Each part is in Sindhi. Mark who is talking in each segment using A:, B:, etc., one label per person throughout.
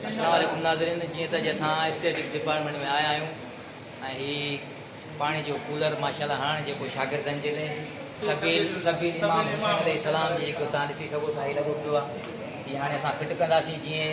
A: السلام عليڪم ناظرين جيئن ته اڄ اسان اسٽيٽڪ ڊپارٽمينٽ ۾ آيا آهيون ۽ هي پاڻي جو ڪولر ماشاءالله هاڻ جيڪو شاگردن جي لاء سبيل سبيل امام حسين عليه السلام جي جيڪو تان ڏسي سگهو ٿا هي لڳو پيو آهي هي هاڻي اسان فٽ ڪنداسين جيئن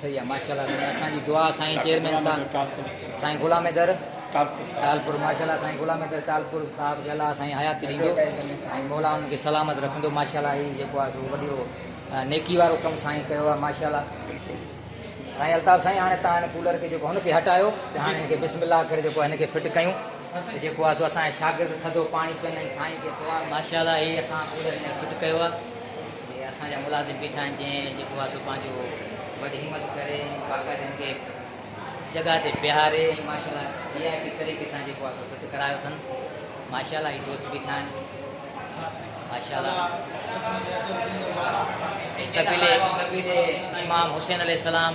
A: صحيح آ ماشاء الله سائين اسان جي دعا سائين چيئرمين صاحب سائين غلام حيدر ٽالپور ماشاء الله سائين غلام حيدر ٽالپور صاحب کي الله سائين حياتي ڏيندو ۽ مولا ان کي سلامت رکندو ماشاء الله هي جيڪو آ سو وڏيو نيڪي وارو ڪم سائين ڪيو آ ماشاء الله سائين الطاف سائين هاڻي تان هن ڪولر کي جيڪو هن کي هٽايو ته هاڻي هن کي بسم الله ڪري جيڪو هن کي فٽ ڪيون ته جيڪو آ سو اسان شاگرد ٿڌو پاڻي پين ۽ سائين کي دعا ماشاء الله هي اسان ڪولر هينئر فٽ ڪيو آ. اهي اسان جا ملازم بيٺا آهن جنهن جيڪو آهي سو پنهنجو وڏ همت ڪري ۽ باقاعدي ان کي جڳهه تي بيهاري ۽ ماشاءالله وي آء پي طريقي سان جيڪو آهي سو فٽ ڪرايو اٿن ماشاءالله هي دوست بيٺا آهن ماشاءالله ۽ سبيل سبيل امام حسين عليه السلام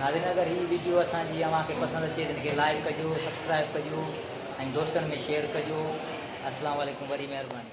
A: ناظرين اگر هي ويڊيو اسان جي اوهان کي پسند اچي ته هن کي لائيڪ ڪجو سبسڪرائيب ڪجو ۽ دوستن ۾ شيئر ڪجو اسلام عليڪم وري مهرباني.